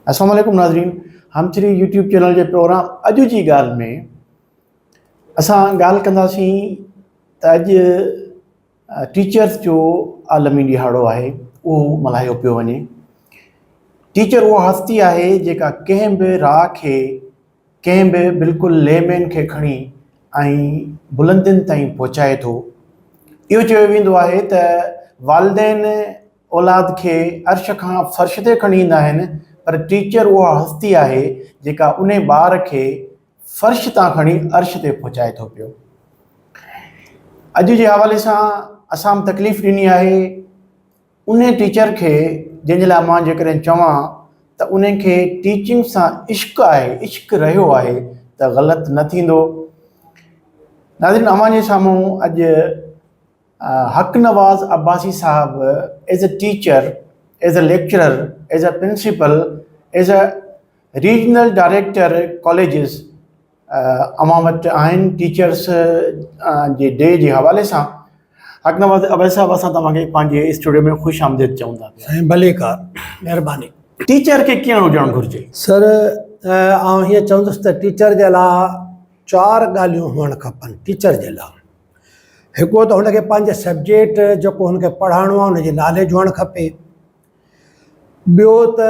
السلام عليڪم ناظرين هم چري يوٽيوب چينل جي پروگرام اڄ جي ڳالهه ۾ اسان ڳالهه ڪنداسين ته اڄ ٽيچرس جو عالمي ڏيهاڙو آهي اهو ملهايو پيو وڃي ٽيچر اها هستي آهي جيڪا ڪنهن به راء کي ڪنهن به بلڪل لي مين کي کڻي ۽ بلندين تائين پهچائي ٿو. اهو چيو ويندو آهي ته والدين اولاد کي عرش کان فرش تي کڻي ايندا آهن پر ٽيچر اها هستي آهي جيڪا انهي ٻار کي فرش تان کڻي عرش تي پهچائي ٿو پيو. اڄ جي حوالي سان اسان به تڪليف ڏني آهي. انهي ٽيچر کي جنهن جي لاء مان جيڪڏهن چوان ته انهي کي ٽيچنگ سان عشق آهي، عشق رهيو آهي ته غلط نه ٿيندو. ناظرين اوهان جي سامهون اڄ حق نواز عباسي صاحب as a teacher, as a lecturer, as a principal, as a regional director colleges, اوهان وٽ آهن ٽيچرس جي ڊي جي حوالي سان حق نواز اويس صاحب اسان توهان کي پنهنجي اسٽوڊيو ۾ خوش آمديد چون ٿا پيا سائين ڀلي ڪا مهرباني. ٽيچر کي ڪيئن هجڻ گهرجي؟ سر آئون هيئن چوندس ته ٽيچر جي لا چار ڳالهيون هئڻ کپن ٽيچر جي لا هڪڙو ته هن کي پنهنجي سبجيڪٽ جيڪو هن کي پڙهائڻو آهي ان جي ناليج هئڻ کپي. ٻيو ته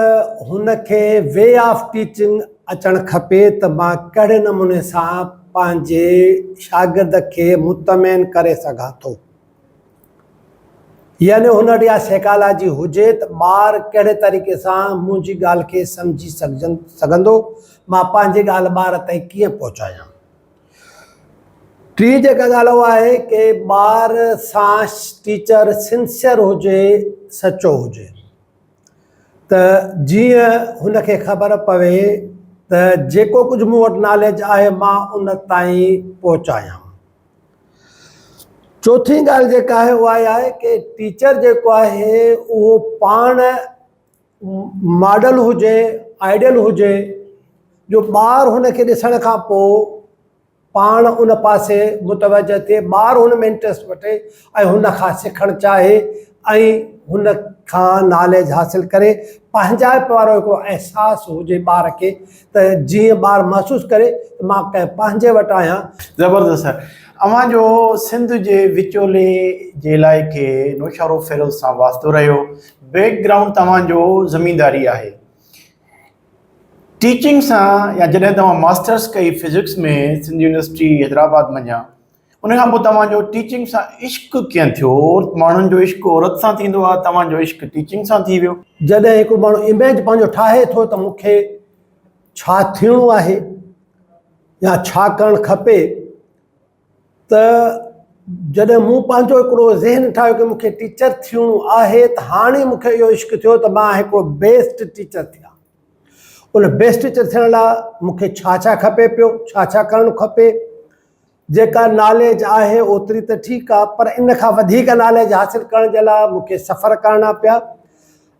هن کي وي آف ٽيچنگ اچڻ کپي ته مان ڪهڙي نموني سان پنهنجي شاگرد کي مطمئن ڪري سگهان ٿو. يعني هن وٽ اها سيڪالاجي هجي ته ٻار ڪهڙي طريقي سان منهنجي ڳالهه کي سمجهي سگهندو، مان پنهنجي ڳالهه ٻار تائين ڪيئن پهچايان. ٽي جيڪا ڳالهه اها آهي ڪي ٻار سان ٽيچر سنسيئر هجي سچو هجي ته جيئن هن کي خبر پوي ته جيڪو ڪجهه مون وٽ ناليج آهي مان ان تائين پهچايان چوٿين ڳالهه جيڪا آهي اها آهي ڪي ٽيچر جيڪو آهي اهو پاڻ ماڊل هجي آئيڊل هجي جو ٻار هن کي ڏسڻ کان پوء پاڻ ان پاسي متوجه ٿئي ٻار هن ۾ انٽرسٽ وٺي ۽ هن کان سکڻ چاهي ۽ هن کان ناليج حاصل ڪري پنهنجائپ وارو هڪڙو احساس هجي ٻار کي ته جيئن ٻار محسوس ڪري ته مان ڪنهن پنهنجي وٽ آهيان. زبردست سر اوهان جو سنڌ جي وچولي جي علائقي نوشهروفيروز سان واسطو رهيو. بيڪ گرائونڊ توهان جو زمينداري آهي. ٽيچنگ سان يا جڏهن توهان ماسٽرس ڪئي فزڪس ۾ سنڌ يونيورسٽي حيدرآباد منجهان ان کان پوء توهان جو ٽيچنگ سان عشق ڪئين ٿيو؟ عورت ماڻهن جو عشق عورت سان ٿيندو آهي توهان جو عشق ٽيچنگ سان ٿي ويو. جڏهن هڪ ماڻهو اميج پنهنجو ٺاهي ٿو ته مون کي ڇا ٿيڻو آهي يا ڇا ڪرڻ کپي، ته جڏهن مون پنهنجو هڪڙو ذهن ٺاهيو ته مون کي ٽيچر ٿيڻو آهي ته هاڻي مون کي اهو عشق ٿيو ته مان هڪڙو بيسٽ ٽيچر ٿيان ان بيسٽ ٽيچر ٿيڻ لاء مون کي ڇا ڇا کپي پيو ڇا ڇا ڪرڻ کپي جيڪا ناليج آهي اوتري ته ٺيڪ آهي پر ان کان وڌيڪ ناليج حاصل ڪرڻ جي لاء مون کي سفر ڪرڻا پيا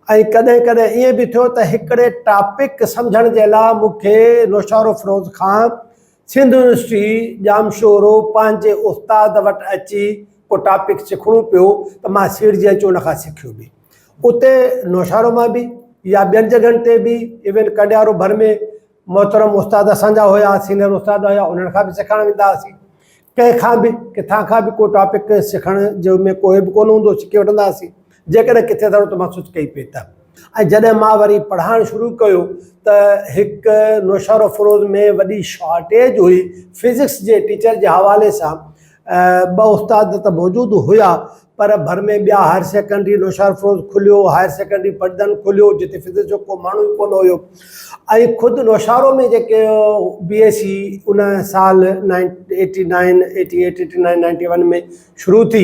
۽ ڪڏهن ڪڏهن ائين به ٿيو ته هڪڙي ٽاپڪ سمجهڻ جي لاء مون کي نوشهرو فروز خان سنڌ يونيورسٽي ڄامشورو پنهنجي استاد وٽ اچي ڪو ٽاپڪ سکڻو پيو ته مان سيڙجي اچي ان کان سکيو به اتي نوشهرو مان به يا ٻين جڳهن تي به ايون ڪنڊيارو ڀر ۾ محترم استاد اسان جا هيا سينئر استاد هيا انهن کان به سکڻ ويندا هئاسين ڪنهن کان به ڪٿان کان به ڪو ٽاپڪ سکڻ جو ۾ ڪوئي به ڪونه هوندو سکي وٺندا هئاسين جيڪڏهن ڪٿي ٿورو ته مان سچ ڪئي پئي ته. ۽ جڏهن مان وري پڙهائڻ شروع ڪيو ته هڪ نوشهروفروز ۾ وڏي شارٽيج هئي فزڪس جي ٽيچر جي حوالي سان ٻه استاد ته موجود هيا پر ڀر ۾ ٻيا هائر سيڪنڊري نوشهروفروز کليو هائر سيڪنڊري پٽدن کليو جتي فزڪس جو ڪو ماڻهو ئي ڪونه هيو ۽ خود نوشهرو ۾ جيڪي بي ايس سي ان سال ninety eighty nine eighty eight eighty nine ninety one ۾ شروع ٿي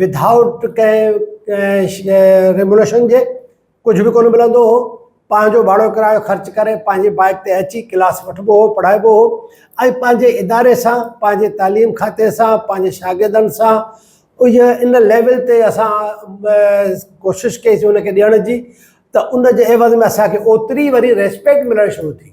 وڌائوٽ ڪنهن ريموليشن جي ڪجهه به ڪونه ملندو هو پنهنجو ڀاڙو ڪرايو خرچ ڪري پنهنجي بائيڪ تي اچي ڪلاس وٺبو هو پڙهائبو هو ۽ پنهنجي اداري سان پنهنجي تعليم کاتي سان پنهنجي شاگردن سان ان ليول تي اسان ڪوشش ڪئيسي ان کي ڏيڻ جي ته ان جي عيوض ۾ اسان کي اوتري وري ريسپيڪٽ ملڻ شروع ٿي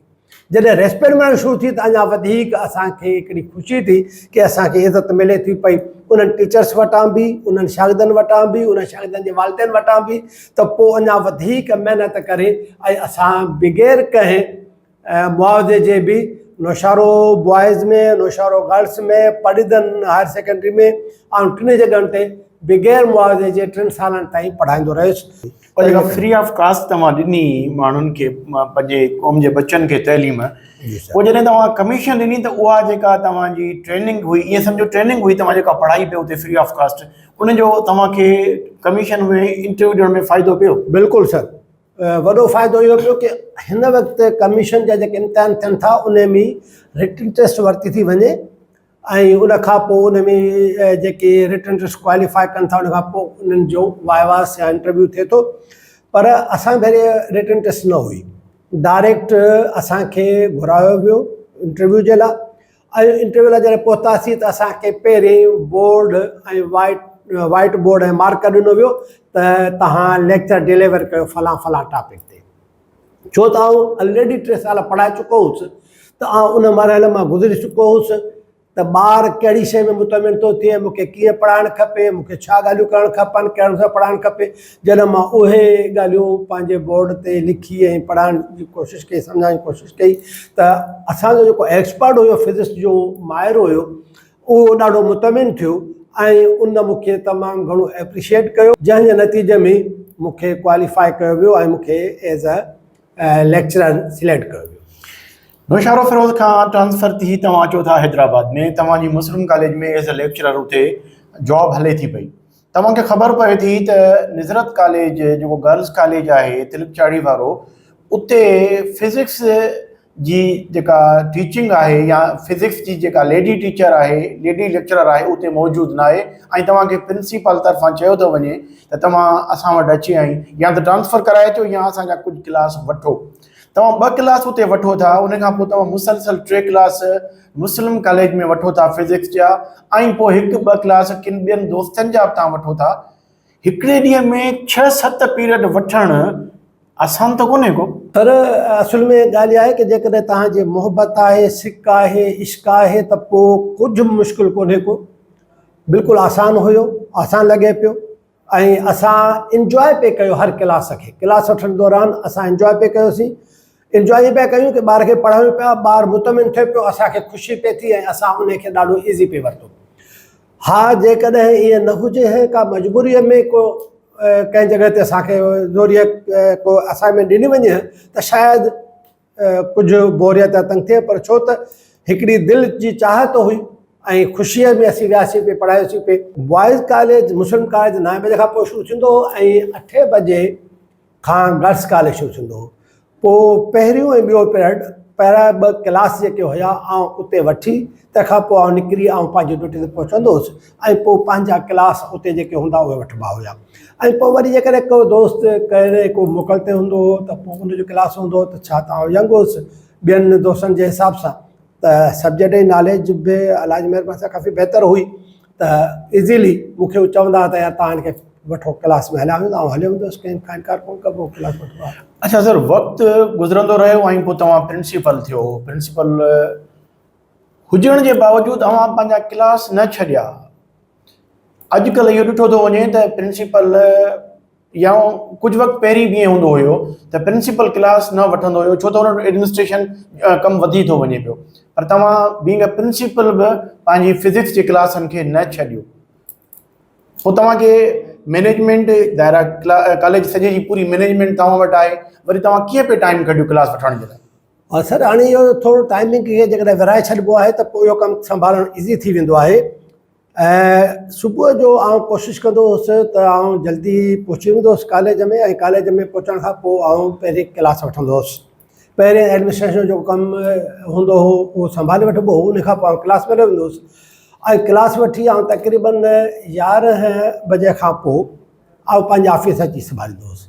جڏهن ريسپيڪٽ ملڻ شروع ٿي ته اڃا وڌيڪ اسان کي هڪڙي خوشي ٿي ڪي اسان کي عزت ملي ٿي پئي انهن ٽيچرس وٽان به انهن شاگردن وٽان به انهن شاگردن جي والدين وٽان به ته پوء اڃا وڌيڪ محنت ڪري ۽ اسان بغير ڪنهن ۽ معاوضي جي به نوشهرو بوائز ۾ نوشهرو گرلس ۾ پرڏيهدن هائر سيڪنڊري ۾ آئون ٽنهي جڳهن تي بغير معاوضي جي ٽن سالن تائين پڙهائيندو رهيس پر جيڪا فري آف ڪاسٽ توهان ڏني ماڻهن کي پنهنجي قوم جي بچن کي تعليم پوء جڏهن توهان ڪميشن ڏني ته اها جيڪا توهان جي ٽريننگ هئي ائين سمجهو ٽريننگ هئي توهان جيڪا پڙهائي پيو اتي فري آف ڪاسٽ ان جو توهان کي ڪميشن ۾ انٽرويو ڏيڻ ۾ فائدو پيو بلڪل سر وڏو فائدو اهو ٿيو ڪي هن وقت ڪميشن جا جيڪي امتحان ٿين ٿا ان ۾ رٽن ٽيسٽ ورتي ٿي وڃي ۽ ان کان پوء ان ۾ جيڪي رٽن ٽيسٽ ڪواليفائي ڪن ٿا ان کان پوء انهن جو وائواس يا انٽرويو ٿئي ٿو پر اسان ڀيري رٽن ٽيسٽ نه هئي ڊائريڪٽ اسانکي گهرايو ويو انٽرويو جي لاء اهي انٽرويو لاء جڏهن پهتاسين ته اسان کي پهرين board ۽ white white board ۽ marker ڏنو ويو ته توهان ليڪچر ڊليور ڪيو فلان فلان ٽاپڪ تي ڇو ته آئون آلريڊي ٽي سال پڙهائي چڪو هوس ته آئون ان مرحلي مان گذري چڪو هوس ته ٻار ڪهڙي شيء ۾ مطمئن ٿو ٿئي مون کي ڪيئن پڙهائڻ کپي مون کي ڇا ڳالهيون ڪرڻ کپن ڪهڙي طرح پڙهائڻ کپي جڏهن مان اهي ڳالهيون پنهنجي بورڊ تي لکي ۽ پڙهائڻ جي ڪوشش ڪئي سمجهائڻ جي ڪوشش ڪئي ته اسان جو جيڪو ايڪسپرٽ هيو فزڪس جو ماهر هيو اهو ڏاڍو مطمئن ٿيو ۽ ان مون کي تمام گهڻو ايپريشيئيٽ ڪيو جنهن جي نتيجي ۾ مون کي ڪواليفاء ڪيو ويو ۽ مون کي ايز اي ليڪچرر سليڪٽ ڪيو ويو. نوشهرو فيروز کان ٽرانسفر ٿي توهان اچو ٿا حيدرآباد ۾ توهان جي مسلم ڪاليج ۾ ايز اي ليڪچرر اتي جاب هلي ٿي پئي توهان کي خبر پوي ٿي ته نظرت ڪاليج جيڪو گرلز ڪاليج آهي تلڪ چاڙهي وارو اتي فزڪس جي جيڪا ٽيچنگ آهي يا فزڪس جي جيڪا ليڊي ٽيچر آهي ليڊي ليڪچرر آهي اتي موجود ناهي ۽ توهان کي پرنسيپال طرفان چيو ٿو وڃي ته توهان اسان وٽ اچي ۽ يا ته ٽرانسفر ڪرائي اچو يا اسان جا ڪجهه ڪلاس وٺو توهان ٻه ڪلاس اتي وٺو ٿا ان کان پوء توهان مسلسل ٽي ڪلاس مسلم ڪاليج ۾ وٺو ٿا فزڪس جا ۽ پوء هڪ ٻه ڪلاس ڪن ٻين دوستن جا به توهان وٺو ٿا هڪڙي ڏينهن ۾ ڇهه ست پيريڊ وٺڻ آسان ته ڪونهي ڪو پر اصل ۾ ڳالهه اها آهي ته جيڪڏهن توهان جي محبت آهي سڪ آهي عشق آهي ته پوء ڪجهه به مشڪل ڪونهي ڪو بلڪل آسان هيو آسان لڳي پيو ۽ اسان انجواء پئي ڪيو هر ڪلاس کي ڪلاس وٺڻ دوران اسان انجواء پئي ڪيوسين انجواء ائين پيا ڪيون ڪي ٻار کي پڙهايون پيا ٻار مطمئن ٿئي پيو اسان کي خوشي پئي ٿي ۽ اسان انهي کي ڏاڍو ايزي پئي ورتو ها جيڪڏهن ائين نه هجي هي ڪا مجبوري ۾ ڪو ڪنهن جڳهه تي اسان کي زوريء ڪو اسائنمينٽ ڏني وڃي ها ته شايد ڪجهه بوريت يا تنگ ٿئي پر ڇو ته هڪڙي دل جي چاهت هئي ۽ خوشيء ۾ اسين وياسين پي پڙهايوسين پي. بوائز ڪاليج مسلم ڪاليج نائين بجي کان پوء شروع ٿيندو هو ۽ اٺين بجي کان گرلس ڪاليج شروع ٿيندو هو. پوء پهريون ۽ ٻيو پيرڊ پهريان ٻه ڪلاس جيڪي هيا آئون اتي وٺي تنهن کان پوء آئون نڪري آئون پنهنجي ڊيوٽي تي پهچندو هوس. ۽ پوء پنهنجا ڪلاس اتي جيڪي هوندا اهي وٺبا هيا ۽ پوء وري جيڪڏهن ڪو دوست ڪهڙي ڪو موڪل تي هوندو هو ته پوء ان جو ڪلاس هوندو هو ته ڇا ته آئون ينگ هوس ٻين دوستن جي حساب سان ته سبجيڪٽ جي ناليج به الله جي مهرباني سان ڪافي بهتر هئي ته ايزيلي مونکي هو چوندا هئا ته يار تان هن کي وٺو ڪلاس ۾ هليا ويندا آئون هليو ويندو هوس ڪنهن کان انڪار ڪونه ڪبو هو ڪلاس وٺبا هيا اچا سر وقت گذرندو رهيو ۽ پوء توهان پرنسپل ٿيو پرنسپل هجڻ جي باوجود اوهان پنهنجا ڪلاس نه ڇڏيا. اڄڪلهه اهو ڏٺو ٿو وڃي ته پرنسپل يا ڪجهه وقت پهرين به ائين هوندو هيو ته پرنسپل ڪلاس نه وٺندو هيو ڇو ته هن وٽ ايڊمنسٽريشن ڪم وڌي ٿو وڃي پيو پر توهان بينگ اي پرنسپل به پنهنجي فزڪس جي ڪلاسن کي نه ڇڏيو پوء توهان کي مينيجمنٽ دائرا ڪاليج سڄي جي پوري مينيجمنٽ توهان وٽ آهي وري توهان ڪيئن پئي ٽائيم ڪڍيو ڪلاس وٺڻ جي لاء ها سر هاڻي اهو ٿورو ٽائمنگ کي جيڪڏهن ورهائي ڇڏبو آهي ته پوء اهو ڪم سنڀالڻ ايزي ٿي ويندو آهي ۽ صبح جو آئون ڪوشش ڪندو هوس ته آئون جلدي پهچي ويندو هوس ڪاليج ۾ ۽ ڪاليج ۾ پهچڻ کان پوء آئون پهرين ڪلاس وٺندو هوس پهرين ايڊمنسٽريشن جو ڪم هوندو هو اهو سنڀالي وٺبو هو ان کان پوء آئون ڪلاس ۾ ويندو هوس ۽ ڪلاس وٺي آئون تقريبن يارهن بجي کان پوء آئون پنهنجي آفيس اچي سنڀاليندو هوس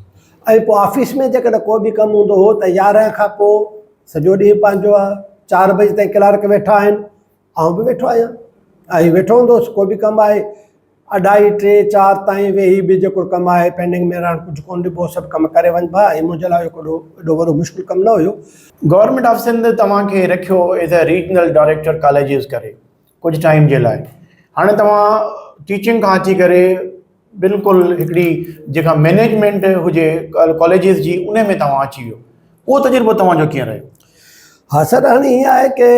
۽ پوء آفيس ۾ جيڪڏهن ڪو به ڪم هوندو هو ته يارهن کان پوء سڄو ڏينهن پنهنجو آهي چار بجي تائين ڪلارڪ ويٺا آهن آئون به ويٺو آهيان ۽ ويٺو هوندو هوس ڪو به ڪم آهي اڍائي ٽي چار تائين ويهي به جيڪو ڪم آهي پينڊنگ ۾ رهڻ ڪجهه ڪونه ڏبو سڀ ڪم ڪري وڃبا هي منهنجي لاء هڪ اڏو اڏو وڏو مشڪل ڪم نه هيو. گورنمينٽ آف سنڌ توهان کي رکيو as a regional director colleges ڪري ڪجهه ٽائيم جي لاء هاڻي توهان ٽيچنگ کان اچي ڪري بلڪل هڪڙي جيڪا مينيجمينٽ هجي ڪاليجز جي ان ۾ توهان اچي ويو اهو تجربو توهان جو ڪيئن رهيو ها سر هاڻي هيئن آهي ڪي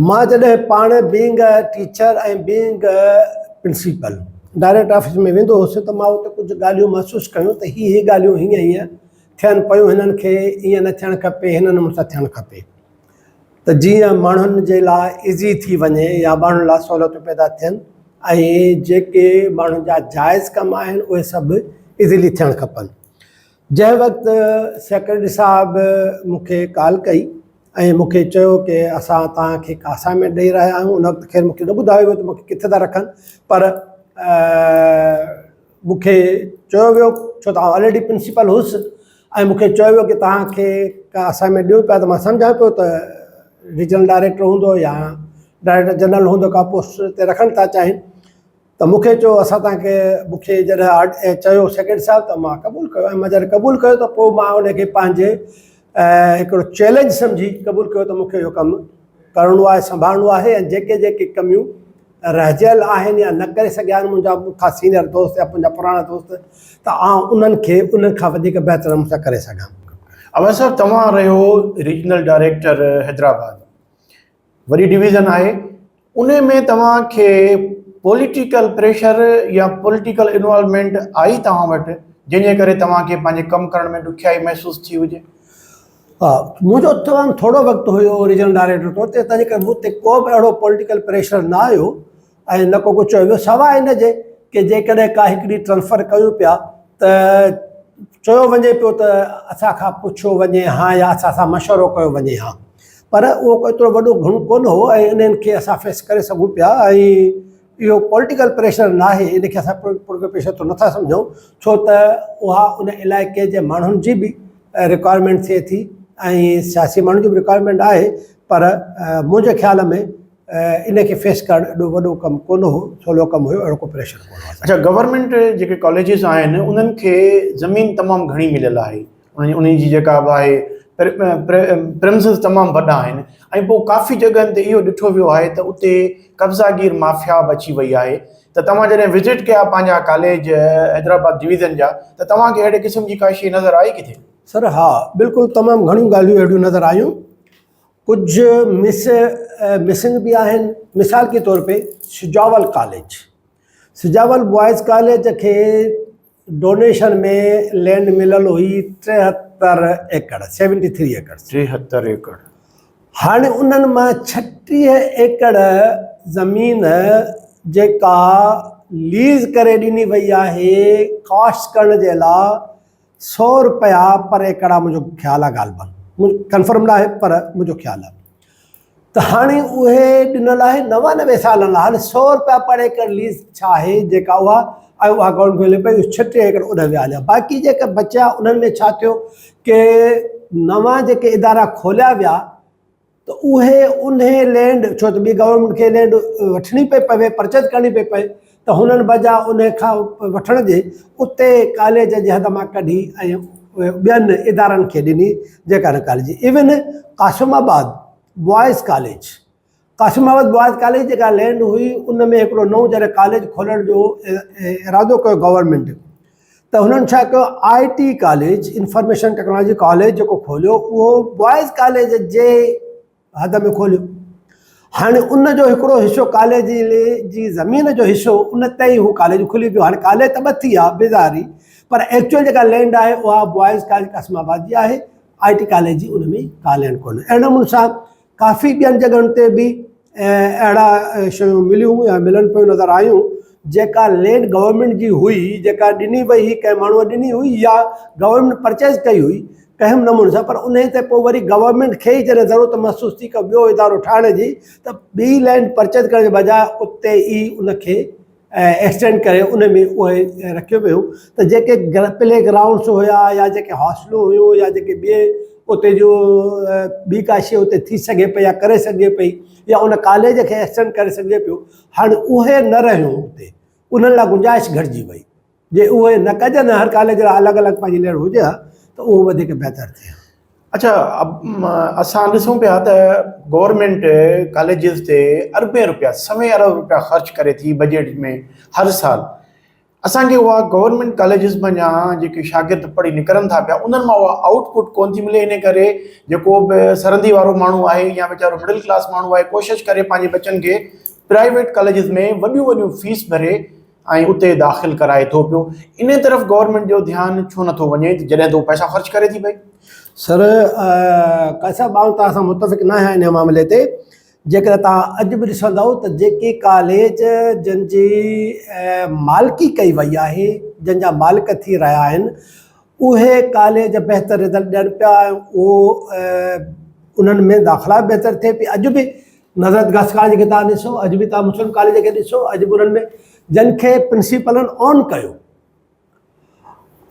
مان جڏهن پاڻ being a teacher ۽ being a principal director office ۾ ويندو هوس ته مان اتي ڪجهه ڳالهيون محسوس ڪيون ته هي هي ڳالهيون هيئن هيئن ٿين پيون هنن کي ايئن نه ٿيڻ کپي هنن مون سان ٿيڻ کپي ته جيئن ماڻهن جي لاء ايزي ٿي وڃي يا ماڻهن لاء سهولتون پيدا ٿين ۽ جيڪي ماڻهن جا جائز ڪم آهن اهي سڀ ايزلي ٿيڻ کپن جنهن وقت سيڪريٽري صاحب مون کي ڪال ڪئي ۽ مون کي چيو ڪي اسان توهان کي اسائنمينٽ ڏئي رهيا آهيون ان وقت خير مون کي نه ٻڌايو ويو ته مون کي ڪٿي ٿا رکن پر مون کي چيو ويو ڇو ته آئون آلريڊي پرنسپل هوس ۽ مون کي چيو ويو ڪي توهان کي ڪا اسائنمينٽ ڏيون پيا ته مان سمجهان پيو ته ريجنل ڊائريڪٽر هوندو يا ڊائريڪٽر جنرل هوندو ڪا پوسٽ تي رکڻ ٿا چاهين ته مون کي چيو اسان تان کي مون کي جڏهن چيو سيڪريٽري صاحب ته مان قبول ڪيو ۽ مجر قبول ڪيو ته پوء مان ان کي پنهنجي هڪڙو چئلينج سمجهي قبول ڪيو ته مون کي اهو ڪم ڪرڻو آهي سنڀالڻو آهي ۽ جيڪي جيڪي ڪميون رهجيل آهن يا نه ڪري سگهيا آهن منهنجا مون کان سينئر دوست يا منهنجا پراڻا دوست ته آئون انهن کي انهن کان وڌيڪ بهتر نموني سان ڪري سگهان. اويس صاحب توهان رهيو ريجنل ڊائريڪٽر حيدرآباد وڏي ڊويزن آهي ان ۾ توهان کي پوليٽيڪل پريشر يا پوليٽيڪل انوالومينٽ آئي توهان وٽ جنهن جي ڪري توهان کي پنهنجي ڪم ڪرڻ ۾ ڏکيائي محسوس ٿي هجي؟ ها منهنجو تمام ٿورو وقت هيو ريجنل ڊائريڪٽر طور تي تنهنجي ڪري مون تي ڪو به اهڙو پوليٽيڪل پريشر نه آيو ۽ نه ڪو ڪجهه چيو ويو سواء ان جي ڪي جيڪڏهن ڪا هڪڙي ٽرانسفر ڪيون پيا ته چيو وڃي پيو ته اسان کان پڇيو وڃي ها يا اسان سان مشورو ڪيو وڃي ها پر اهو ڪو ايترو وڏو گهڻو ڪونه هو ۽ انهن کي اسان فيس ڪري سگهون پيا ۽ اهو پوليٽيڪل پريشر ناهي ان کي اسان پوليٽيڪل پريشر ته نٿا سمجهون ڇو ته اها ان علائقي جي ماڻهن جي به رڪوائرمينٽ ٿئي ٿي ۽ سياسي ماڻهن جي به رڪوائرمينٽ آهي پر منهنجي خيال ۾ ان کي فيس ڪرڻ ايڏو وڏو ڪم ڪونه هو سولو ڪم هيو اهڙو ڪو پريشر ڪونه اڇا گورنمينٽ جيڪي ڪاليجز آهن انهن کي زمين تمام گهڻي مليل آهي ۽ انهي جي جيڪا به آهي پريمسز تمام وڏا آهن ۽ پوء ڪافي جڳهن تي اهو ڏٺو ويو آهي ته اتي قبضا گير مافيا به اچي وئي آهي ته توهان جڏهن وزٽ ڪيا پنهنجا ڪاليج حيدرآباد ڊويزن جا ته توهان کي اهڙي قسم جي ڪا شيء نظر آئي ڪٿي؟ سر ها بلڪل تمام گهڻيون ڳالهيون اهڙيون نظر آيون ڪجهه مس مسنگ به آهن مثال ڪي طور پي Sujawal college Sujawal boys college کي ڊونيشن ۾ لينڊ مليل هئي ٽيهتر ايڪڙ، سيونٽي ٿري ايڪڙز. ٽيهتر ايڪڙ. هاڻي انهن مان ڇٽيهه ايڪڙ زمين جيڪا ليز ڪري ڏني وئي آهي ڪاسٽ ڪرڻ جي لا سو رپيا پر ايڪڙ آ منهنجو خيال آ غالبن ڪنفرم ناهي پر منهنجو خيال آ ته هاڻي اهي ڏنل آهي نوانوي سالن لاء هاڻي سؤ روپيا پر ايڪڙ ليز ڇا آهي جيڪا اها ۽ اها گورنمينٽ ملي پئي اهي ڇٽي ايڪڙ اڏ ويا هليا باقي جيڪا بچيا انهن ۾ ڇا ٿيو ڪي نوان جيڪي ادارا کوليا ويا ته اهي انهي لينڊ ڇو ته ٻي گورنمينٽ کي لينڊ وٺڻي پئي پوي پرچيز ڪرڻي پئي پئي ته هنن بجا ان کان وٺڻ جي اتي ڪاليج جي حد مان ڪڍي ۽ ٻين ادارن کي ڏني جيڪا هن ڪاليج جي even Qasimabad boys college Qasimabad boys college جيڪا لينڊ هئي ان ۾ هڪڙو نئون جڏهن ڪاليج کولڻ جو ارادو ڪيو گورنمنٽ ته هنن ڇا ڪيو I T college information technology college جيڪو کوليو اهو بوائز ڪاليج جي حد ۾ کوليو. هاڻي ان جو هڪڙو حصو ڪالي جي لي جي زمين جو حصو ان تي ئي هو ڪالي جو کلي پيو. هاڻي ڪالي ته ٻه ٿي ويا بظاهري پر ايڪچوئل جيڪا لينڊ آهي اها بوائز ڪاليج قاسم آباد جي آهي. آء ٽي ڪاليج جي ان ۾ ڪا لينڊ ڪونهي. اهڙي نموني سان ڪافي ٻين جڳهن تي به اهڙا شيون مليون يا ملن پيون نظر آيون جيڪا لينڊ گورنمينٽ جي هئي جيڪا ڏني وئي هئي ڪنهن ماڻهوء ڏني هئي يا گورنمينٽ پرچيز ڪئي هئي اهم نموني سان پر انهي تي پوء وري گورنمينٽ کي ئي جڏهن ضرورت محسوس ٿي ڪو ٻيو ادارو ٺاهڻ جي ته ٻي لينڊ پرچيز ڪرڻ جي بجاء اتي ئي ان کي ايڪسٽينڊ ڪري ان ۾ اهي رکيو ويو ته جيڪي پلي گرائونڊس هيا يا جيڪي هاسٽلون هيون يا جيڪي ٻي اتي جو ٻي ڪا شيء اتي ٿي سگهي پئي يا ڪري سگهجي پئي يا ان ڪاليج کي ايڪسٽينڊ ڪري سگهجي پيو هاڻي اهي نه رهيون اتي انهن لاء گنجائش گهٽجي وئي جي اهي نه ڪجن هر ڪاليج لاء الڳ الڳ پنهنجي ليڻ هجي ها ته اهو وڌيڪ بهتر ٿئي ها. اڇا اسان ڏسون پيا ته گورنمينٽ ڪاليجز تي اربين روپيا سوين ارب روپيا خرچ ڪري ٿي بجيٽ ۾ هر سال اسان کي اها گورنمينٽ ڪاليجز منجھا جيڪي شاگرد پڙهي نڪرن ٿا پيا انهن مان اها آؤٽ پٽ ڪون ٿي ملي ان ڪري جيڪو به سرندي وارو ماڻهو آهي يا ويچارو مڊل ڪلاس ماڻهو آهي ڪوشش ڪري پنهنجي بچن کي پرائيويٽ ڪاليجز ۾ وڏيون وڏيون فيس ڀري ۽ اتي داخل ڪرائي ٿو پيو انهي طرف گورنمينٽ جو ڌيان ڇو نٿو وڃي ته جڏهن ته هو پئسا خرچ ڪري ٿي پئي. سر قاضي صاحب آئون توهان سان متفق ناهيان انهي معاملي تي جيڪڏهن توهان اڄ به ڏسندؤ ته جيڪي ڪاليج جن جي مالڪي ڪئي وئي آهي جن جا مالڪ ٿي رهيا آهن اهي ڪاليج بهتر رزلٽ ڏين پيا ۽ اهو انهن ۾ داخلا به بهتر ٿئي پئي اڄ به نظرت گرلس ڪاليج کي توهان ڏسو اڄ به توهان مسلم ڪاليج کي ڏسو اڄ به انهن ۾ جن کي پرنسيپلن آن ڪيو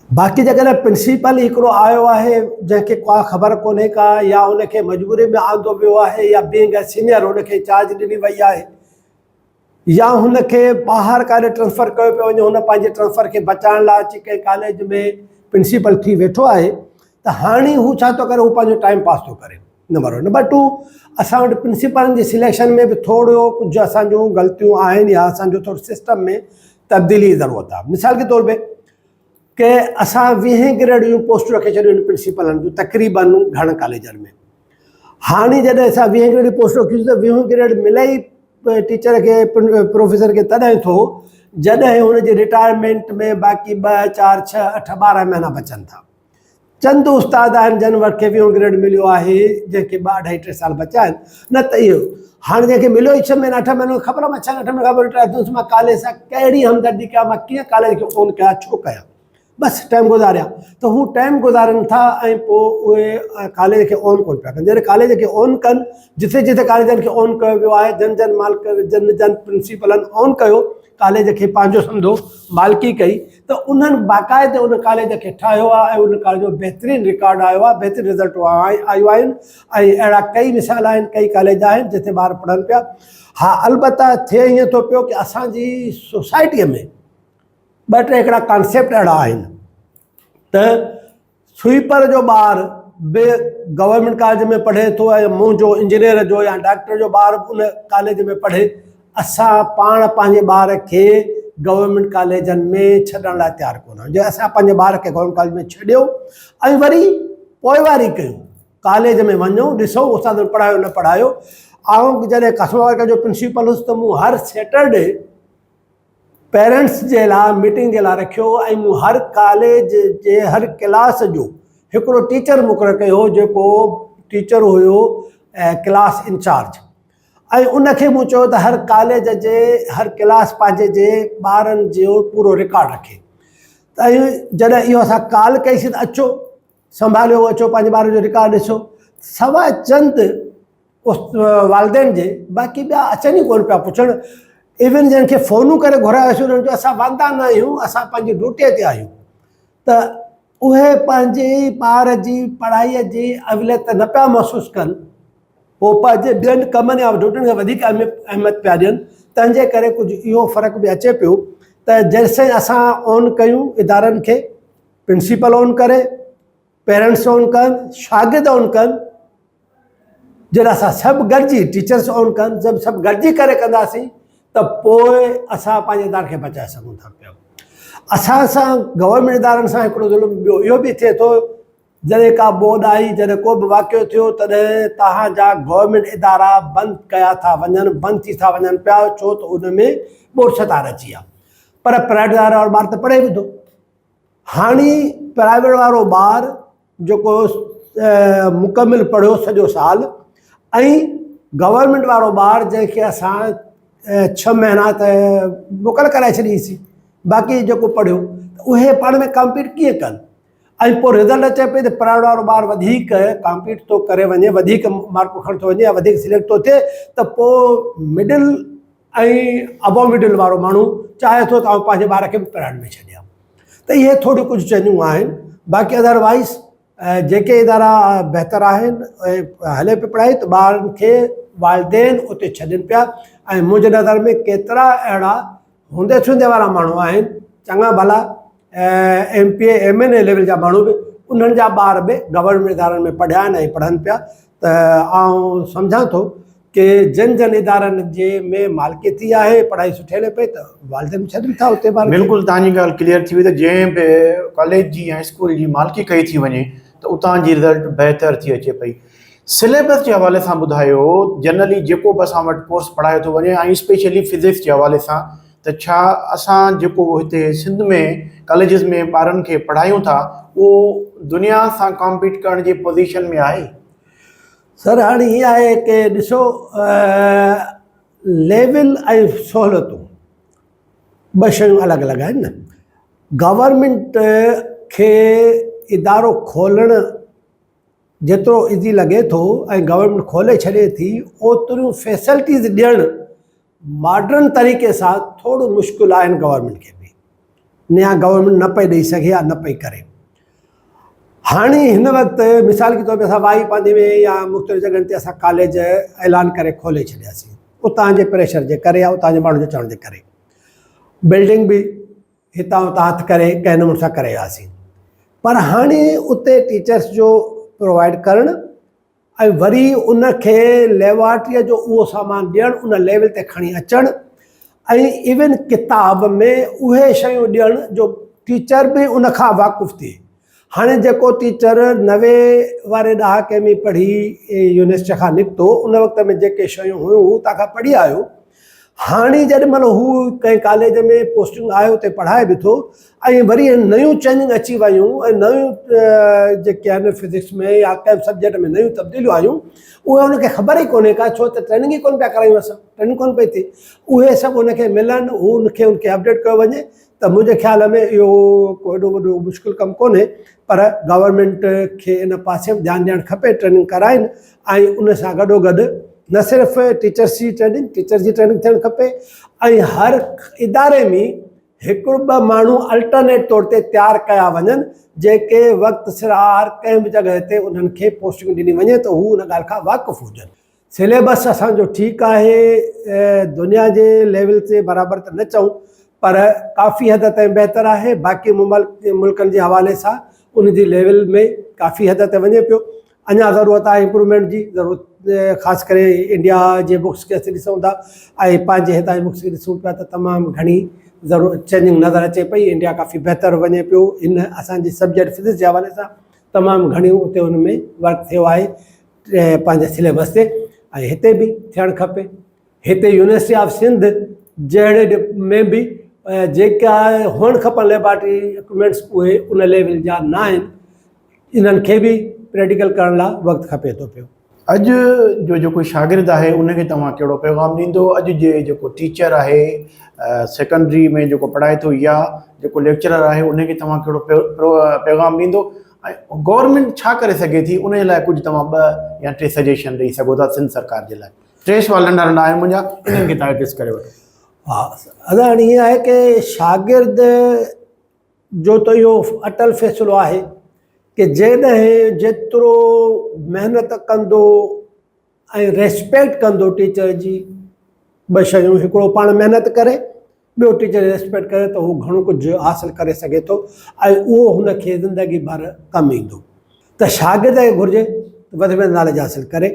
باقي جيڪڏهن پرنسيپل هڪڙو آيو آهي جنهن کي ڪا خبر ڪونهي ڪا يا ان کي مجبوري ۾ آندو ويو آهي يا بينگ اي سينئر ان کي چارج ڏني وئي آهي يا هن کي ٻاهر ڪاڏي ٽرانسفر ڪيو پيو وڃي هن پنهنجي ٽرانسفر کي بچائڻ لاء اچي ڪنهن ڪاليج ۾ پرنسيپل ٿي ويٺو آهي ته هاڻي هو ڇا ٿو ڪري هو پنهنجو ٽائيم پاس ٿو ڪري نمبر ون نمبر ٽو اسان وٽ پرنسيپلن جي سليڪشن ۾ به ٿورو ڪجهه اسان جون غلطيون آهن يا اسان جو ٿورو سسٽم ۾ تبديلي ضرورت آهي مثال جي طور تي ڪي اسان ويهين گريڊ جون پوسٽون رکي ڇڏيون آهن پرنسيپلن جون تقريبن گهڻن ڪاليجن ۾ هاڻي جڏهن اسان ويهه گريڊ پوسٽ رکيون ته ويهون گريڊ ملي ئي ٽيچر کي پروفيسر کي تڏهن ٿو جڏهن هن جي رٽائرمينٽ ۾ باقي ٻه چار ڇهه اٺ ٻارهن مهينا بچن ٿا چند استاد آهن جن وٽ کي ويهون گريڊ مليو آهي جنهن کي ٻه اڍائي ٽي سال بچا آهن نه ته اهو هاڻي جنهن کي مليو ئي ڇهه مهينا اٺ مهينو خبر مان ڇهن اٺ مهينن کان پوء رٽائر ٿيس مان ڪاليج سان ڪهڙي همدردي ڪيا مان ڪيئن ڪاليج کي فون ڪيا ڇو ڪيا بس ٽائيم گذاريا ته هو ٽائيم گذارن ٿا ۽ پوء اهي ڪاليج کي آن ڪون پيا ڪن جڏهن ڪاليج کي آن ڪن جتي جتي ڪاليجن کي آن ڪيو ويو آهي جن جن مالڪ جن جن پرنسيپلن آن ڪيو ڪاليج کي پنهنجو سمجهو مالڪي ڪئي ته انهن باقاعده ان ڪاليج کي ٺاهيو آهي ۽ ان ڪاليج جو بهترين رڪارڊ آيو آهي بهترين رزلٽ آيو آهن ۽ اهڙا ڪئي مثال آهن ڪئي ڪاليج آهن جتي ٻار پڙهن پيا ها البته ٿئي ائين ٿو پيو ڪي اسان جي سوسائٽي ۾ ٻه ٽي هڪڙا ڪانسيپٽ اهڙا آهن ته سوئيپر جو ٻار به گورنمنٽ ڪاليج ۾ پڙهي ٿو ۽ منهنجو انجنيئر جو يا ڊاڪٽر جو ٻار به ان ڪاليج ۾ پڙهي اسان پاڻ پنهنجي ٻار کي گورنمنٽ ڪاليجن ۾ ڇڏڻ لاء تيار ڪونه آهيون جي اسان پنهنجي ٻار کي گورنمنٽ ڪاليج ۾ ڇڏيو ۽ وري پوئواري ڪيون ڪاليج ۾ وڃو ڏسو استاد پڙهايو نه پڙهايو آئون جڏهن قسم وارڪر جو پرنسپل هوس ته مون هر سيٽرڊي پيرنٽس جي لاء ميٽنگ جي لاء رکيو ۽ مون هر ڪاليج جي هر ڪلاس جو هڪڙو ٽيچر مقرر ڪيو هو جيڪو ٽيچر هيو ڪلاس انچارج ۽ ان کي مون چيو ته هر ڪاليج جي هر ڪلاس پنهنجي جي ٻارن جو پورو رڪارڊ رکي ۽ جڏهن اهو اسان ڪال ڪئيسين ته اچو سنڀاليو اچو پنهنجي ٻار جو رڪارڊ ڏسو سواء چند والدين جي باقي ٻيا اچن ئي ڪون پيا پڇڻ ایون جن کي فونون ڪري گهرايوسي انهن جو اسان واندا نه آهيون اسان پنهنجي ڊوٽي تي آهيون ته اهي پنهنجي ٻار جي پڙهائي جي اوليت نه پيا محسوس ڪن هو پنهنجي ٻين ڪمن يا ڊوٽين کي وڌيڪ اهميت پيا ڏين تنهن جي ڪري ڪجهه اهو فرق به اچي پيو ته جيسين اسان اون ڪيون ادارن کي پرنسپل آن ڪري پيرنٽس آن ڪن شاگرد آن ڪن جڏهن اسان سڀ گڏجي ٽيچرس آن ڪن جب سڀ گڏجي ڪري ڪنداسين ته پوء اسان پنهنجي ادارن کي بچائي سگهون ٿا پيا اسان سان گورنمنٽ ادارن سان هڪڙو ظلم ٻيو اهو به ٿئي ٿو جڏهن ڪا ٻوڏ آئي جڏهن ڪو به واقعو ٿيو تڏهن توهان جا گورنمنٽ ادارا بند ڪيا ٿا وڃن بند ٿي ٿا وڃن پيا ڇو ته ان ۾ ٻوڏ ستار اچي ويا پر پرائيويٽ ادارا ٻار ته پڙهي به ٿو هاڻي پرائيويٽ وارو ٻار جيڪو مڪمل پڙهيو سڄو سال ۽ گورنمينٽ وارو ٻار جنهن کي اسان ڇهه مهينا ته موڪل ڪرائي ڇڏيسي باقي جيڪو پڙهيو ته اهي پاڻ ۾ ڪامپيٽ ڪيئن ڪن ۽ پوء رزلٽ اچي پئي ته پرائيويٽ وارو ٻار وڌيڪ ڪامپيٽ ٿو ڪري وڃي وڌيڪ مارڪون کڻي ٿو وڃي يا وڌيڪ سليڪٽ ٿو ٿئي ته پوء مڊل ۽ ابو مڊل وارو ماڻهو چاهي ٿو ته آئون پنهنجي ٻار کي به پڙهائڻ ۾ ڇڏيان ته اهي ٿوريون ڪجهه چينجون آهن باقي اڌروائيز جيڪي ادارا بهتر آهن هلي پئي پڙهائي ته ٻارن کي والدين اتي ڇڏين پيا ۽ منهنجي نظر ۾ ڪيترا اهڙا هوندي سوندي وارا ماڻهو آهن چڱا ڀلا M P A M N A level جا ماڻهو به انهن جا ٻار به گورنمينٽ ادارن ۾ پڙهيا آهن ۽ پڙهن پيا ته آئون سمجهان ٿو ڪي جن جن ادارن جي ۾ مالڪيتي آهي پڙهائي سٺي هلي پئي ته والدين ڇڏن ٿا اتي ٻار بلڪل تنهن جي ڳالهه ڪليئر ٿي وئي ته جنهن به ڪاليج جي يا اسڪول جي مالڪي ڪئي ٿي وڃي ته اتان جي رزلٽ بهتر ٿي اچي پئي سليبس جي حوالي سان ٻڌايو جنرلي جيڪو به اسان وٽ ڪورس پڙهايو ٿو وڃي ۽ اسپيشلي فزڪس جي حوالي سان ته ڇا اسان جيڪو هتي سنڌ ۾ ڪاليجز ۾ ٻارن کي پڙهايون ٿا اهو دنيا سان ڪامپيٽ ڪرڻ جي پوزيشن ۾ آهي؟ سر هاڻي هي آهي ڪي ڏسو ليول ۽ سهولتون ٻه شيون الڳ الڳ آهن نه گورمينٽ کي ادارو کولڻ جيترو ايزي لڳي ٿو ۽ گورمينٽ کولي ڇڏي ٿي اوتريون فيسلٽيز ڏيڻ ماڊرن طريقي سان ٿورو مشڪل آهي هن گورنمنٽ کي به نيا گورنمنٽ نه پئي ڏئي سگهي يا نه پئي ڪري هاڻي هن وقت مثال کي طور تي اسان وائي پاندي ۾ يا مختلف جڳهن تي اسان ڪاليج اعلان ڪري کولي ڇڏياسين اتان جي پريشر جي ڪري يا اتان جي ماڻهن جو چوڻ جي ڪري بلڊنگ به هتان هتان هٿ ڪري ڪنهن نموني سان ڪري وياسين پر هاڻي اتي ٽيچرس جو پرووائيڊ ڪرڻ ۽ وري ان کي ليبارٽريء جو اهو سامان ڏيڻ ان ليول تي کڻي اچڻ ۽ ايون ڪتاب ۾ اهي شيون ڏيڻ جو ٽيچر به ان کان واقف ٿئي هاڻي جيڪو ٽيچر نوي واري ڏهاڪي ۾ پڙهي يونيورسٽيء کان نڪتو ان وقت ۾ جيڪي شيون هيون هو اتان کان پڙهي آيو هاڻي جيڏي مهل هو ڪنهن ڪاليج ۾ پوسٽنگ آهي اتي پڙهائي به ٿو ۽ وري نيون چينجنگ اچي ويون ۽ نيون جيڪي آهن فزڪس ۾ يا ڪنهن سبجيڪٽ ۾ نيون تبديليون آيون اهي هن کي خبر ئي ڪونهي ڪا ڇو ته ٽريننگ ئي ڪونه پيا ڪرايون اسان ٽريننگ ڪونه پئي ٿئي اهي سڀ هن کي ملن هو ان کي ان کي اپڊيٽ ڪيو وڃي ته منهنجي خيال ۾ اهو ڪو ايڏو وڏو مشڪل ڪم ڪونهي پر گورنمنٽ کي ان پاسي به ڌيان ڏيڻ کپي ٽريننگ ڪرائين ۽ ان سان گڏو گڏ نه صرف ٽيچرس جي ٽريننگ ٽيچر جي ٽريننگ ٿيڻ کپي ۽ هر اداري ۾ هڪڙو ٻه ماڻهو الٽرنيٽ طور تي تيار ڪيا وڃن جيڪي وقت سر هر ڪنهن به جڳهه تي انهن کي پوسٽنگ ڏني وڃي ته هو ان ڳالهه کان واقف هجن سليبس اسان جو ٺيڪ آهي دنيا جي ليول تي برابر ته نه چئون پر ڪافي حد تائين بهتر آهي باقي ملڪن جي حوالي سان ان جي ليول ۾ ڪافي حد تائين وڃي پيو اڃا ضرورت آهي امپرومينٽ جي ضرورت خاص ڪري انڊيا جي بڪس کي اسين ڏسون ٿا ۽ پنهنجي هتان جي بڪس کي ڏسون پيا ته تمام گهڻي ضرورت چينجنگ نظر اچي پئي انڊيا ڪافي بهتر وڃي پيو ان اسان جي سبجيڪٽ فزڪس جي حوالي سان تمام گهڻيون اتي ان ۾ ورڪ ٿيو آهي پنهنجي سليبس تي ۽ هتي به ٿيڻ کپي هتي يونيورسٽي آف سنڌ جهڙي ۾ به جيڪا هئڻ کپن ليبارٽري اڪوپمينٽس اهي ان ليول جا نہ آهن انهن کي به پريڊيڪل ڪرڻ لا وقت کپي ٿو پيو. اڄ جو جيڪو شاگرد آهي ان کي توهان ڪهڙو پيغام ڏيندو اڄ جي جيڪو ٽيچر آهي سيڪنڊري ۾ جيڪو پڙهائي ٿو يا جيڪو ليڪچرر آهي ان کي توهان ڪهڙو پيغام ڏيندو ۽ گورنمينٽ ڇا ڪري سگهي ٿي ان جي لاء ڪجهه توهان ٻه يا ٽي سجيشن ڏئي سگهو ٿا سنڌ سرڪار جي لاء ٽي سوال ننڍا ننڍا آهن منهنجا انهن کي تحفظ ڪري وٺو ها ادا هاڻي ائين آهي ڪي شاگرد جو ته اهو اٽل فيصلو آهي ڪي جيڏهن جيترو محنت ڪندو ۽ ريسپيڪٽ ڪندو ٽيچر جي ٻه شيون هڪڙو پاڻ محنت ڪري ٻيو ٽيچر ريسپيڪٽ ڪري ته هو گهڻو ڪجهه حاصل ڪري سگهي ٿو ۽ اهو هن کي زندگي ڀر ڪم ايندو ته شاگرد کي گهرجي وڌ ۾ وڌ ناليج حاصل ڪري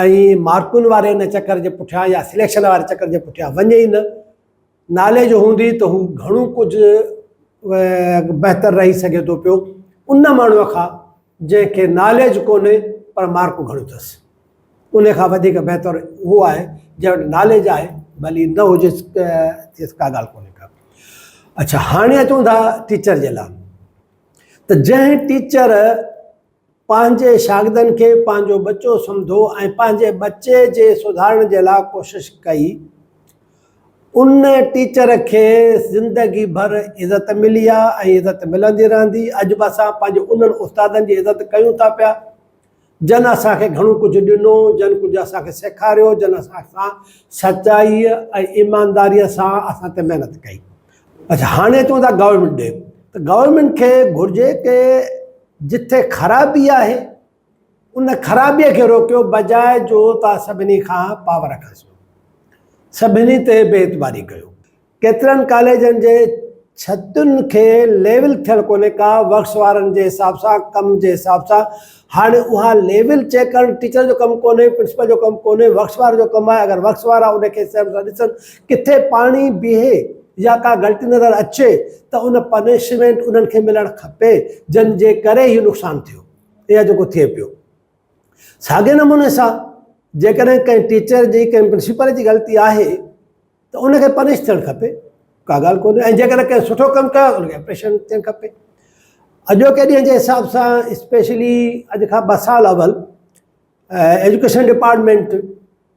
۽ مارڪن واري ان چڪر جي پٺيان يا سليڪشن واري چڪر جي پٺيان وڃي ئي نه نالي جو هوندي ته هو گهڻو ڪجهه بهتر رهي سگهي ٿو پيو ان ماڻهوء کان جنهن کي ناليج ڪونهي پر مارڪون گهڻيون اٿس ان کان وڌيڪ بهتر اهو آهي جنهن وٽ ناليج آهي ڀلي نه هجيس تيس ڪا ڳالهه ڪونهي ڪا اچھا هاڻي اچون ٿا ٽيچر جي لاء ته جنهن ٽيچر پنهنجي شاگردن کي پنهنجو ٻچو سمجهو ۽ پنهنجي ٻچي جي سڌارڻ جي لاء ڪوشش ڪئي. ان ٽيچر کي زندگي ڀر عزت ملي آهي ۽ عزت ملندي رهندي. اڄ به اسان پنهنجي انهن استادن جي عزت ڪيون ٿا پيا، جن اسان کي گهڻو ڪجهه ڏنو، جن ڪجهه اسان کي سيکاريو، جن اسان سان سچائي ۽ ايمانداري سان اسان تي محنت ڪئي. اچا هاڻي چون ٿا گورنمينٽ ڏي ته گورنمينٽ کي گهرجي ته جتي خرابي آهي ان خرابي کي روڪيو بجاء جو توهان سڀني کان پاور کسيو سڀني تي بي اعتباري ڪيو ڪيترن ڪاليجن جي ڇتن کي ليول ٿيل ڪونهي ڪا ورڪس وارن جي حساب سان ڪم جي حساب سان هاڻي اها ليول چيڪ ڪرڻ ٽيچر جو ڪم ڪونهي پرنسپل جو ڪم ڪونهي ورڪس وارن جو ڪم آهي اگر ورڪس وارا ان کي سيم سان ڏسن ڪٿي پاڻي بيهي يا ڪا غلطي نظر اچي ته ان پنشمينٽ انهن کي ملڻ کپي جن جي ڪري هي نقصان ٿيو يا جيڪو ٿئي پيو. ساڳئي نموني سان جيڪڏهن ڪنهن ٽيچر جي ڪنهن پرنسپل جي غلطي آهي ته ان کي پنش ٿيڻ کپي ڪا ڳالهه ڪونهي ۽ جيڪڏهن ڪنهن سٺو ڪم ڪيو ان کي اپريشن ٿيڻ کپي اڄوڪي ڏينهن جي حساب سان اسپيشلي اڄ کان ٻه سال اول ايجوڪيشن ڊپارٽمنٽ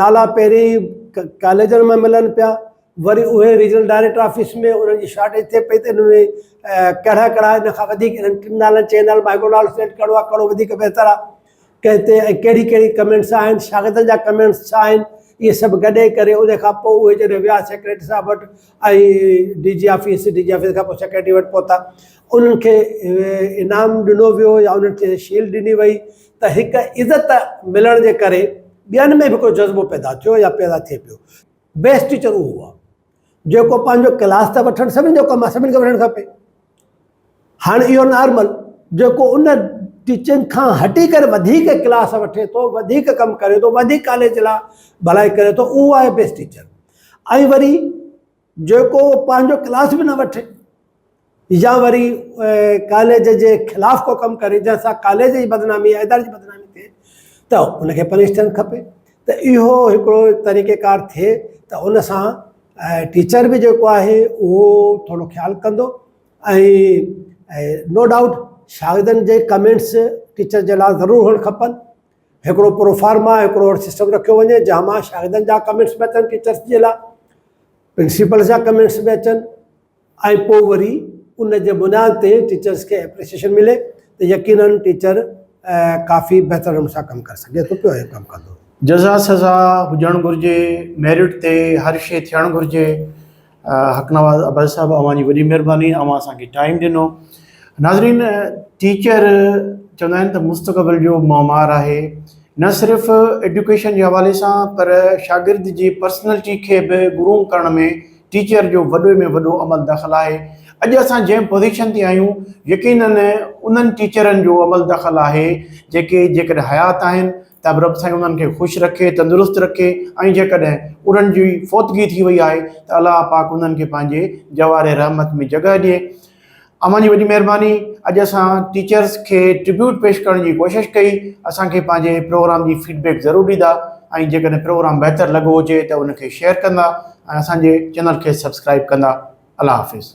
نالا پهرين ڪاليجن مان ملن پيا وري اهي ريجنل ڊائريڪٽر آفيس ۾ انهن جي شارٽيج ٿئي پئي ته ان ۾ ڪهڙا ڪهڙا ان کان وڌيڪ انهن ٽن نالن چئن نالن مان هڪڙو نالو سليڪٽ ڪرڻو آهي ڪهڙو وڌيڪ بهتر آهي ڪنهن تي ۽ ڪهڙي ڪهڙي ڪمينٽس آهن شاگردن جا ڪمينٽس ڇا آهن اهي سڀ گڏي ڪري ان کان پوء اهي جڏهن ويا سيڪريٽري صاحب وٽ ۽ D G office D G office کان پوء سيڪريٽري وٽ پهتا انهن کي انعام ڏنو ويو يا انهن کي شيلڊ ڏني وئي ته هڪ عزت ملڻ جي ڪري ٻين ۾ به ڪو جذبو پيدا ٿيو يا پيدا ٿئي پيو. بيسٽ ٽيچر اهو آهي جيڪو پنهنجو ڪلاس ته وٺڻ سڀني جو ڪم آهي سڀني کي وٺڻ کپي هاڻي اهو نارمل جيڪو ان ٽيچنگ کان هٽي ڪري وڌيڪ ڪلاس وٺي ٿو وڌيڪ ڪم ڪري ٿو وڌيڪ ڪاليج لاء ڀلائي ڪري ٿو اهو آهي بيسٽ ٽيچر ۽ وري جيڪو پنهنجو ڪلاس به نه وٺي يا وري ڪاليج جي خلاف ڪو ڪم ڪري جنهن سان ڪاليج جي بدنامي يا اداري جي بدنامي ٿئي ته ان کي پنش ٿيڻ کپي ته اهو هڪڙو طريقيڪار ٿئي ته ان سان ٽيچر به جيڪو آهي اهو ٿورو خيال ڪندو ۽ نو ڊائوٽ شاگردن جي ڪمينٽس ٽيچر جي لا ضرور هئڻ کپن هڪڙو پروفارما هڪڙو اهڙو سسٽم رکيو وڃي جنهن مان شاگردن جا ڪمينٽس به اچن ٽيچرس جي لاء پرنسپلس جا ڪمينٽس به اچن ۽ پوء وري ان جي بنياد تي ٽيچرس کي اپريسيشن ملي ته يقينن ٽيچر ڪافي بهتر نموني سان ڪم ڪري سگهي ٿو پيو ۽ ڪم ڪندو جزا سزا هجڻ گهرجي ميرٽ تي هر شي ٿيڻ گهرجي حق نواز ابڙ صاحب اوهان جي وڏي مهرباني اوهان اسان کي ٽائيم ڏنو ناظرين ٽيچر چوندا آهن ته مستقبل جو معمار آهي نه صرف ايڊوڪيشن جي حوالي سان پر شاگرد جي پرسنلٽي کي به گروم ڪرڻ ۾ ٽيچر جو وڏو ۾ وڏو عمل دخل آهي اڄ اسان جنهن پوزيشن تي آهيون يقينن انهن ٽيچرن جو عمل دخل آهي جيڪي جيڪڏهن حيات آهن ته به رب سائين انهن کي خوش رکي، تندرست رکي ۽ جيڪڏهن انهن جي فوتگي ٿي وئي آهي ته الله پاڪ انهن کي پنهنجي جوار رحمت ۾ جڳهه ڏئي. اوهان جي وڏي مهرباني اڄ اسان ٽيچرس کي ٽربيوٽ پيش ڪرڻ جي ڪوشش ڪئي، اسان کي پنهنجي پروگرام جي فيڊ بيڪ ضرور ڏيندا ۽ جيڪڏهن پروگرام بهتر لڳو هجي ته ان کي شيئر ڪندا ۽ اسان جي چينل کي سبسڪرائيب ڪندا. الله حافظ.